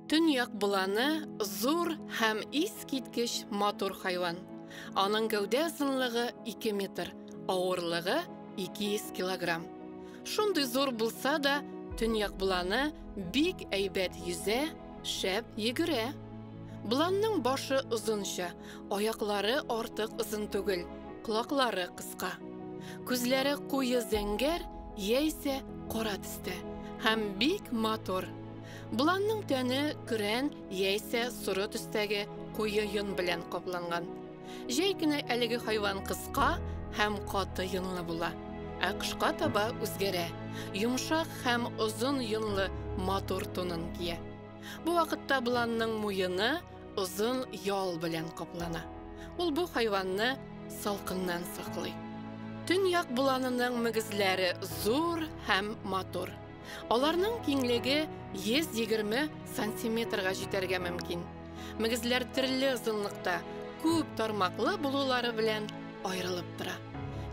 Төньяк буланы зур һәм искиткеч матур хайван. Аның гәүдә озынлыгы 2 метр, авырлыгы 200 килограмм. Шундый зур булса да, төньяк буланы бик әйбәт йөзә Шәп йөгерә. Бланның башы озынча, аяклары артык озын түгел, колаклары кыска. Күзләре куе зәңгәр яисә кара төстә һәм бик матур. Бланның тәне көрән яисә соры төстәге куе йон белән капланган. Җәй көне әлеге хайван кыска һәм каты йонлы була. Ә кышка таба үзгәрә. Йомшак һәм озын йонлы матур тунын кия. Бу вакытта боланның муены озын ял белән каплана. Ул бу хайванны салкыннан саклый. Төньяк боланының мөгезләре зур һәм матур. Аларның киңлеге 120 сантиметрга җитәргә мөмкин. Мөгезләр төрле озынлыкта, күп тармаклы булулары белән аерылып тора.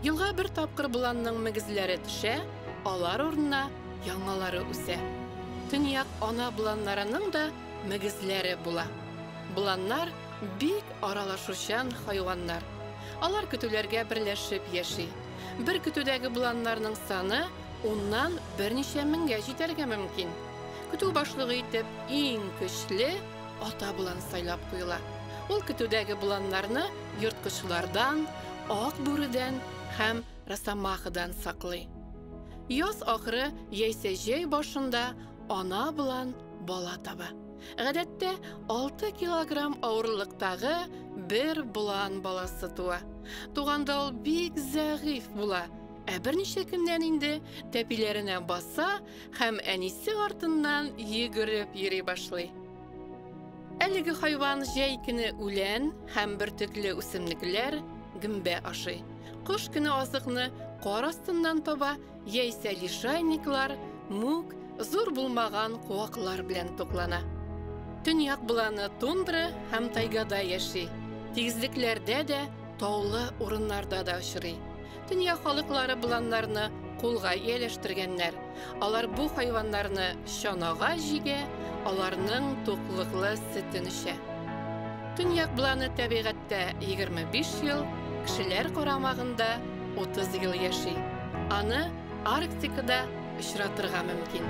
Елга бер тапкыр боланның мөгезләре төшә, алар урынына яңалары үсә. Төньяк ана боланнарының да мөгезләре була. Боланнар бик аралашучан хайваннар. Алар көтүләргә берләшеп яши. Бер көтүдәге боланнарның саны Уннан берничә меңгә җитәргә мөмкин. Көтү башлыгы итеп иң көчле ата болан сайлап куела. Ул көтүдәге боланнарны ерткычлардан, ак бүредән һәм росомахадан саклый. Яз ахыры яисә җәй башында ана болан бала таба. Гадәттә, 6 килограмм авырлыктагы бер болан баласы туа. Туганда ул бик зәгыйфь була. Ә берничә көннән инде тәпиләренә баса һәм әнисе артыннан йөгереп йөри башлый. Әлеге хайван җәй көне үлән һәм бөртекле үсемлекләр, гөмбә ашый. Кыш көне азыкны кар астыннан таба, яисә лишайниклар, мүк, зур булмаган куаклар белән туклана. Төньяк боланы тундра һәм тайгада яши. Тигезлекләрдә дә, таулы урыннарда да очрый. Дөнья халыклары боланнарны кулга ияләштергәннәр. Алар бу хайваннарны чанага җигә, аларның туклыклы сөтен эчә. Төньяк боланы табигатьтә 25 ел, кешеләр карамагында 30 ел яши. Аны Арктикада очратырга мөмкин.